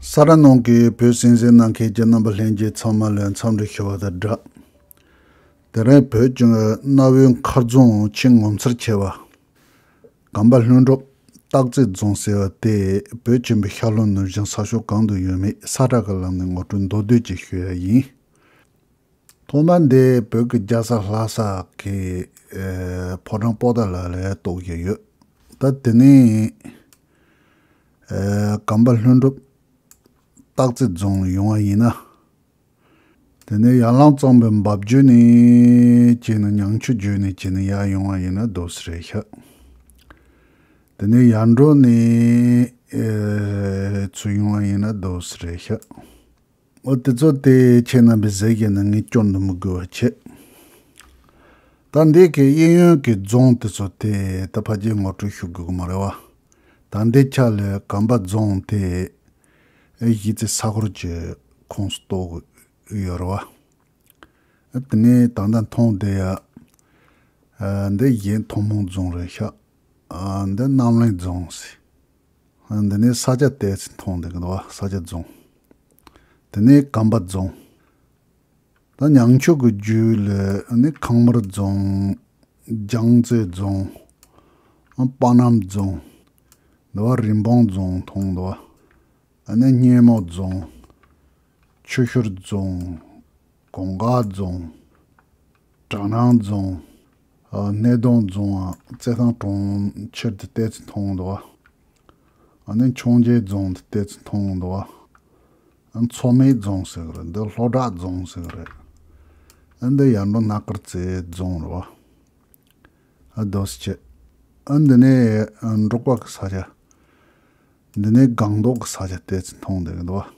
ས་ར་ནང་གི་བོད་སྲིད་འཛིན་གནང་མཁན་གྱི་རྣམ་པ་ལྷན་རྒྱས་ཚང་མ་ལས་མཚམས་འདྲི་ཞུ་བ་དང་སྦྲགས། དེ་རིང་བོད་ལྗོངས་ཀྱི་གནའ་བོའི་མཁར་རྫོང་ཆེས་ངོ་མཚར་ཆེ་བ། གངས་པ་ལྷུན་གྲུབ་སྟག་རྩེ་རྫོང་ཟེར་བ་དེ་བོད་ཆེན་པོའི་ཤར་ལྷོ་ནུབ་བྱང་ས་ཕྱོགས་གང་དུ་ཡོད་མེད་ས་བསྒྲགས་ཀྱི་ལམ་ནས་ངོ་སྤྲོད་མདོར་བསྡུས་ཅིག་ཞུ་ཡ་ཡིན། ཐོག་མ་འདི་བོད་ཀྱི་རྒྱལ་ས་ལྷ་ས་ཀྱི་ཕོ་བྲང་སྤོ་ད་ལ་ལས་གཏོགས་ཀྱི་ཡོད། ད་དེ་ནས། སྒམ་པ་ལྷུན་གྲུབ་སྟག་རྩེ་རྫོང་ཡོང་བ་ཡིན་ན། དེ་ནས་ཡར་ལངས་གཙང་པོའི་འབབ་རྒྱུད་ནས་སྐྱེས་ནས་ཉང་ཆུ་རྒྱུད་ནས་སྐྱེས་ནས་ཡར་ཡོང་བ་ཡིན་ན་རྡོ་སི་རེད་ཤག། དེ་ནས་ཡར་འགྲོ་ནས་ཚུར་ཡོང་བ་ཡིན་ན་རྡོ་སི་རེད་ཤག། འོ་དེ་ཚོ་དེ་ཁྱེད་རྣམ་པའི་ཟས་ཀྱི་ནང་ངས་སྐྱོར་འདུག་མི་དགོས་བ་ཁྱེད། ད་འདི་གའི་གཡས་གཡོན་གྱི་རྫོང་དེ་ཚོ་དེ་ད་ཕ་རྒྱའི་ངོ་སྤྲོད་ཞུ་དགོས་ཀྱི་མ་རེད་བ། ད་འདི་ཆ་ལོས་གམ་པ་རྫོང་དེ་གཞིས་རྩེ་ས་གོར་གྱི་ཁོངས་སུ་གཏོགས་ཀྱི་ཡོད་རེད་བ། དེ་ནས་ད་ལྟ་མཐོང་བསྡད་ཡ། འདི་གཞན་ཐུང་མོང་རྫོང་རེད་ཤག། འདི་རྣམ་གླིང་རྫོང། འདི་ནི་ས་སྐྱ་ལྟས་ཚེ་མཐོང་དེ་གདོད་བ་ས་སྐྱ་རྫོང། དེ་ནི་སྒམ་པ་རྫོང། ད་ཉང་ཆུ་གི་རྒྱུད་ལས་ནི་ཁང་དམར་རྫོང། རྒྱང་རྩེ་རྫོང། དཔའ་སྣམ་རྫོང། འདི་བ་རིན་སྤུངས་རྫོང་མཐོང་འདི་བ། ད་ནི་སྙེ་མོ་རྫོང། ཆུ་ཤུར་རྫོང། གོང་དཀར་རྫོང། གྲ་ནང་རྫོང། སྣེ་གདོང་རྫོང། རྩེ་ཐང་གྲོང་ཁྱེར་དུ་གཏེར་ཆུ་འཐུང་འདུག་ཨ་ནི་འཕྱོངས་རྒྱས་རྫོང་དུ་གཏེར་ཆུ་འཐུང་འདུག་ཨ་ནི་མཚོ་མེད་རྫོང་ཟེར་གི་རེད་འདི་ལྷོ་བྲག་རྫོང་ཟེར་གི་རེད་ཨ་འདི་ཡར་འབྲོག་སྣ་དཀར་རྩེ་རྫོང་རེད་བ་ཨ་རྡོ་སི་ཁྱི་ཨ་འདི་ནི་འབྲོག་པ་གི་ས་ཆ་འདི་ནི་སྒང་ཏོག་གི་ས་ཆ་གཏེར་ཆུ་འཐུང་འདུག་གི་འདུག་བ།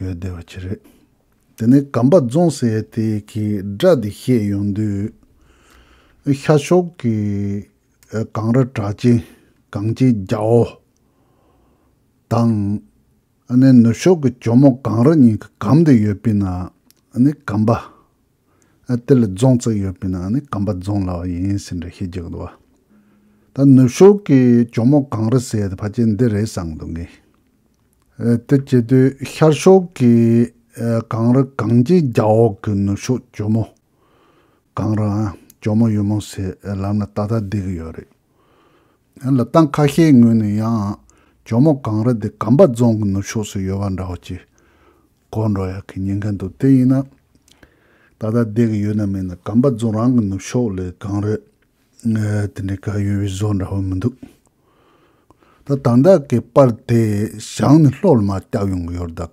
ཡོད་བདེ་བ་ཆེ་རེད། དེ་ནས་སྒམ་པ་རྫོང་ཟེར་ཡས་དེ་གི་སྒྲ་དེ་ཤེས་ཡོང་དུས། ཤ་ཤོག་གི་གངས་ར་བྲག་ཅན་གངས་ཅན་རྒྱ་བོ། དང། ནུབ་ཤོག་གི་གྱོ་མོ་གངས་ར་གཉིས་ཀྱི་སྒམ་དུ་ཡོད་པས་ན་ནི་སྒམ་པ། དེ་ལ་རྫོང་བརྩེགས་ཡོད་པའི་ནང་ནས་གམ་པ་རྫོང་ལ་བ་ཡིན་ཟེར་འདྲ་ཤེས་ཀྱི་འདུག་བ། ད་ནུབ་ཕྱོགས་ཀྱི་གྱོ་མོ་གངས་རི་ཟེར་དེ་ཕ་ཅན་འདི་རེད་བསམ་འདུག་ངས། དེ་བྱེད་དུས་ཤར་ཕྱོགས་ཀྱི་གངས་རི་གངས་ཅན་རྒྱ་འོག་གི་ནུབ་ཕྱོགས་གྱོ་མོ་གངས་རི་འམ་གྱོ་མོ་ཡུ་མོ་ཟེར་ལམ་ལ་ཏག་ཏག་བསྡད་ཀྱི་ཡོད་རེད། ལ་སྟངས་ཁ་ཤས་ངོས་ནས་ཡང། ཇོ་མོ་གངས་རི་འདི་གམ་པ་རྫོང་གི་ནུབ་ཕྱོགས་སུ་ཡོད་པ་འདྲ་བ་ཅི། གོ་འགྲོ་ཡག་གི་ཉན་གིན་འདུག་དེ་ཡིན་ན། ད་ལྟ་བསྡད་གི་ཡོད་ན་མིན་ན་གམ་པ་རྫོང་རང་གི་ནུབ་ཕྱོགས་ལས་གངས་རི། དེ་འདྲའི་ག་ཡོད་པའི་བཟོ་འདྲ་བོ་མི་འདུག། ད་དང་བདག་གི་པར་དེ་བཞག་ནས་ལྷོད་ལ་མ་བསྐྱག་ཡོང་གི་ཡོད་དཱ།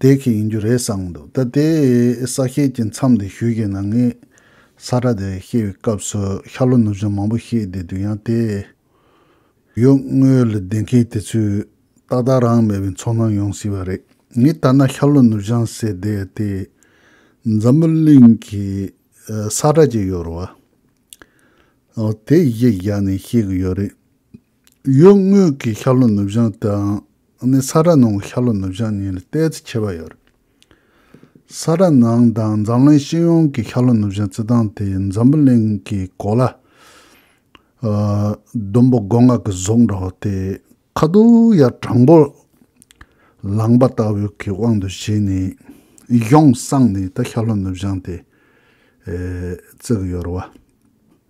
དེ་གི་ཡིན་རྒྱུ་རེད་བསམ་འདུག་ད་ལྟའི་ས་སྐྱེལ་གྱི་མཚམས་འདི་བཞུགས་ཀྱི་ནང་ངས་ས་ཁྲ་དེ་སྐྱེལ་བའི་སྐབས་སུ་ཤར་ལྷོ་ནུབ་བྱང་མང་པོ་ཤེས་བསྡད་འདུག་ཡང་དེ་ཡོད་དངུལ་ལ་ལྡེང་མཁན་དེ་ཚོས་ཏག་ཏག་རང་མེད་པའི་འཚོར་སྣང་ཡོང་སྲིད་པ་རེད་ངས་ལྟར་ན་ཤར་ལྷོ་ནུབ་བྱང་ཟེར་བསྡད་དེ་འཛམ་བུ་གླིང་གི་ས་ཁྲ་ཅིག་ཡོད་རེད་བ། དེ་ཡིག་བཞག་ནས་ཤེས་གི་ཡོད་རེད། གཡོན་ངོས་ཀྱི་ཤར་ལྷོ་ནུབ་བྱང་དང་ནི་ས་ར་ནང་གི་ཤར་ལྷོ་ནུབ་བྱང་གཉིས་ལ་བལྟས་ཚེ་ཁྱད་པར་ཡོད། ས་ར་ནང་དང་འཛམ་གླིང་ཤེས་ཡོན་གྱི་ཤར་ལྷོ་ནུབ་བྱང་བརྩི་སྟངས་དེ་འཛམ་བུ་གླིང་གི་གོ་ལ། ལྡུམ་བུ་སྒོ་ང་གི་གཟུགས་འདྲ་བ་སྟེ་ཁ་དོག་ཡ་དྲང་པོ་ལངས་པ་ལྟ་བུའི་གི་དབང་དུ་བྱས་ནས་གཞུང་བསྲངས་ནས་ད་ཤར་ལྷོ་ནུབ་བྱང་དེ་བརྩི་གི་ཡོད་རེད་བ།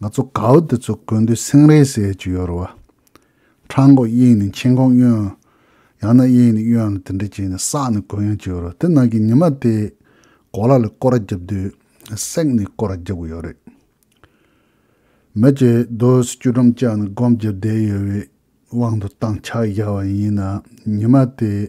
ང་ཚོ་གའུ་དེ་ཚོ་དགོས་འདོད་སེང་རས་ཟས་ཀྱི་ཡོད་རེད་བ། འཕྲང་གོག་གཡེང་ནས་མཆན་ཁང་གཡོན། ཡང་ན་གཡེང་ནས་གཡོན་ལ་དེ་འདྲ་བྱས་ནས་བསགས་ནས་དགོས་ཡོང་གི་ཡོད་རེད་དེ་ནང་གི་ཉི་མ་དེས་གོ་ལ་ལ་སྐོར་ར་རྒྱབ་དུས་བསྲེགས་ནས་སྐོར་ར་རྒྱབ་གི་ཡོད་རེད། མི་ཇེ་རྡོ་སུ་བཅུ་ཁྲམ་བཅག་ནས་སྒོམ་རྒྱབ་བསྡད་ཡོད་བའི་དབང་དུ་བཏང་ཕྱག་བཞག་བ་ཡིན་ན་ཉི་མ་དེས།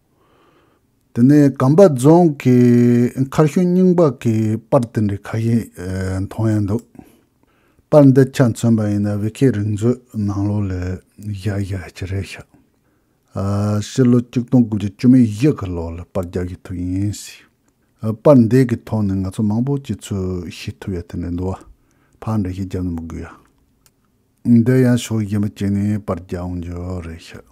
དེ་ནས་སྒམ་པ་རྫོང་གི་མཁར་ཤུལ་རྙིང་པ་གི་པར་དེ་འདྲའི་ཁ་ཞེ་མཐོང་ཡང་འདུག། པར་འདི་ཆ་མཚོན་པ་ཡིན་ན་བྷི་ཁེ་རིག་མཛོད་ནང་ལོ་ལས་བཞག་བཞག་ཅི་རེད་ཤག། ཕྱི་ལོ་གཅིག་སྟོང་དགུ་བརྒྱ་བཅུ་མེད་བཞི་གི་ལོ་ལ་པར་རྒྱག་གི་ཐུག་ཡིན་སྲིད། པར་འདི་གི་ཐོག་ནས་ང་ཚོ་མང་པོ་ཅིག་ཚོས་ཤེས་ཐུབ་ཡ་དེ་འདྲ་འདུག་བ། ཕར་འདྲ་ཞིག་རྒྱབ་ནས་མི་དགོས་ཡ། འདི་ཡང་ཕྱོགས་གཞན་པ་བྱས་ནས་པར་རྒྱག་འོང་རྒྱུ་རེད་ཤག།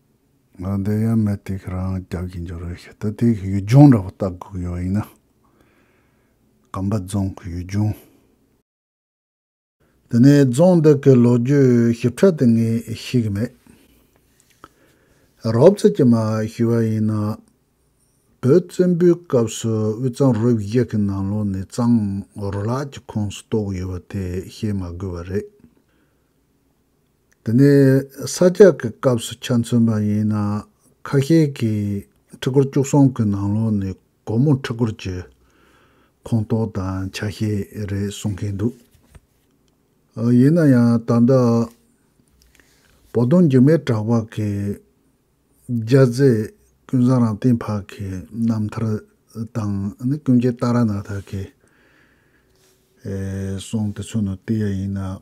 ང་འདི་ཡང་མེད་དེ་ཁྱེད་རང་རྒྱག་གི་འགྱོ་རེད་ཤི་ད་དེ་གི་ཡུལ་ལྗོངས་འདྲ་པོ་བལྟ་དགོས་ཡོད་ཡིན་ན། གམ་པ་རྫོང་གི་ཡུལ་ལྗོངས། དེ་ནས་རྫོང་འདི་གི་ལོ་རྒྱུས་ཞིབ་ཕྲ་དེ་ངས་ཤེས་གི་མེད། རོབ་ཙེ་ཀྱི་མ་ཞུས་པ་ཡིན་ན། བོད་བཙན་པོའི་སྐབས་སུ་དབུས་གཙང་རུ་བཞི་གི་ནང་ལོགས་ནས་གཙང་རུ་ལག་གི་ཁོངས་སུ་གཏོགས་ཡོད་པ་དེ་བཤད་མ་དགོས་པ་རེད། འདི་ནི་ས་རྒྱག་གི་སྐབས་སུ་ཆ་མཚོན་པ་ཡིན་ན་ཁ་ཤས་ཀྱིས་ཕྲུ་གུར་བཅུ་གསུམ་གྱི་ནང་ལོགས་ནས་སྒོར་མོ་ཕྲུ་གུར་གྱི་ཁོངས་གཏོགས་དང་ཆ་ཤས་རེད་གསུང་མཁན་འདུག་ཨ། ཡིན་ན་ཡང་ད་ལྟ་བོ་དོང་རྒྱུ་མའི་གྲགས་པ་གི་རྒྱ་རྫས་ཀུན་བཟང་རང་སྟེང་ཕག་གི་རྣམ་ཐར་དང་ཀུན་མཁྱེན་ཏཱ་ར་ནཱ་ཐ་གི་གསུང་དེ་ཚོ་ནི་ལྟོས་ཡ་ཡིན་ན།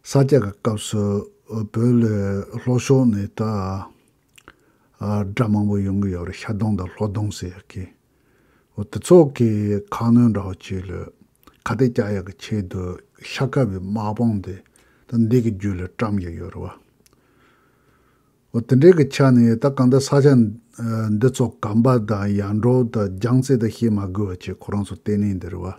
ས་སྐྱ་གི་སྐབས་སུ་བོད་ལོའི་ལྷོ་ཕྱོགས་ནས་ད་སྒྲ་མང་པོ་ཡོང་གི་ཡོད་རེད་ཤ་སྡོང་དང་ལྷོ་སྡོང་ཟེར་ཡག་གི། འོ་དེ་ཚོ་གི་ཁ་སྣོན་འདྲ་བོ་བྱས་ལོས་ཁ་གཏད་རྐྱ་ཡག་གི་ཆེད་དུ་ཤ་དཀར་བའི་དམག་དཔུང་དེ་ད་འདི་གི་རྒྱུད་ལ་བཀྲམ་གྱི་ཡོད་རེད་བ། འོ་དེ་འདྲའི་གི་ཆ་ནས་ད་གང་ལྟར་ས་སྐྱ་འདི་ཚོ་གམ་པ་དང་ཡར་འབྲོག་དང་རྒྱང་རྩེ་དང་ཤེས་མ་དགོས་བ་བཅས་ཁོ་རང་ཚོ་གཏན་ནས་འདི་རེད་བ།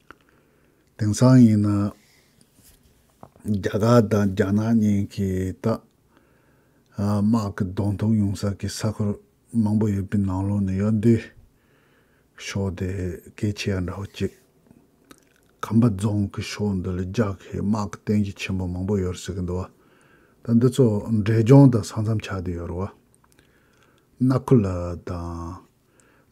དེང་སང་ཡིན་ན་རྒྱ་གར་དང་རྒྱ་ནག་གཉིས་ཀྱི་སྟག་དམག་གི་གདོང་ཐུག་ཡོང་ས་ཀྱི་ས་ཁུལ་མང་པོ་ཡོད་པའི་ནང་ལོགས་ནས་གཡོ་འདུལ་ཕྱོགས་དེ་གལ་ཆེ་ཡང་འདྲ་བོ་གཅིག་ཁམས་པ་རྫོང་གི་ཕྱོགས་འདི་ལ་རྒྱག་གི་དམག་གི་བསྟན་གཞི་ཆེན་པོ་མང་པོ་ཡོད་ཟེར་གི་འདུག་ད་འདི་ཚོ་འབྲས་ལྗོངས་དང་ས་མཚམས་ཆགས་དུས་ཡོད་རེད་བ། སྣ་ཁུ་ལ་དང།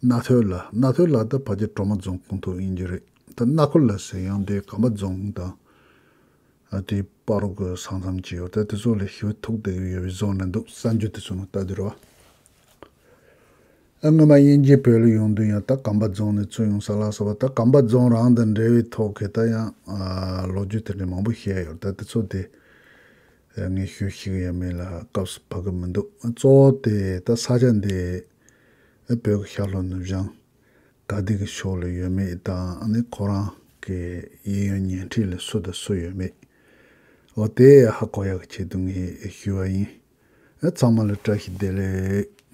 རྣ་ཐོས་ལ་རྣ་ཐོས་ལགས་ད་བར་གྱི་གྲོ་མ་རྫོང་ཁོངས་གཏོགས་ཡིན་རྒྱུ་རེད་ད་རྣ་ཁོ་ལ་ཟེར་ཡང་དེ་གམ་པ་རྫོང་དང། དེའི་དཔའ་རོ་དགོས་ས་མཚམས་ཀྱི་ཡོད་ད་དེ་ཚོ་ལས་ཤི་བོ་ཐུག་བསྡད་ཡོད་པའི་རྫོང་རེད་འདུག་ས་འགྱུར་དེ་ཚོ་ནང་ལྟ་དུས་རེད་བ། ཨ་སྔོན་མ་དབྱིན་ཇིའི་བོད་ལ་ཡོང་དུས་ཡང་ད་གམ་པ་རྫོང་ནས་ཚུར་ཡོང་ས་ལགས་ས་བ་ད་གམ་པ་རྫོང་རང་དང་འབྲེལ་བའི་ཐོག་གི་ད་ཡང་ལོ་རྒྱུས་དེ་འདྲའི་མང་པོ་བཤད་ཡོད་ད་དེ་ཚོ་དེ་ངས་ཤོད་ཤེས་ཀྱི་ཡ་མེད་ལ་སྐབས་སུ་བབ་ཀྱི་མི་འདུག་གཙོ་བོ་དེ་ད་ས་ཆ་འདི། ཨེ་བོད་ཀྱི་ཤར་ལྷོ་ནུབ་བྱང། དགའ་སྡིག་གི་ཕྱོགས་ལ་ཡོད་མེད་དང་ནི་ཁོ་རང་གི་ཡིད་ཡོད་ཉན་འཁྲིས་ལ་སུ་དང་སུ་ཡོད་མེད། འོ་དེ་ཧ་གོ་ཡག་གི་ཆེད་དུ་ངས་ཞུས་བ་ཡིན། ཨེ་ཚང་མ་ལ་བཀྲ་ཤིས་བདེ་ལེགས།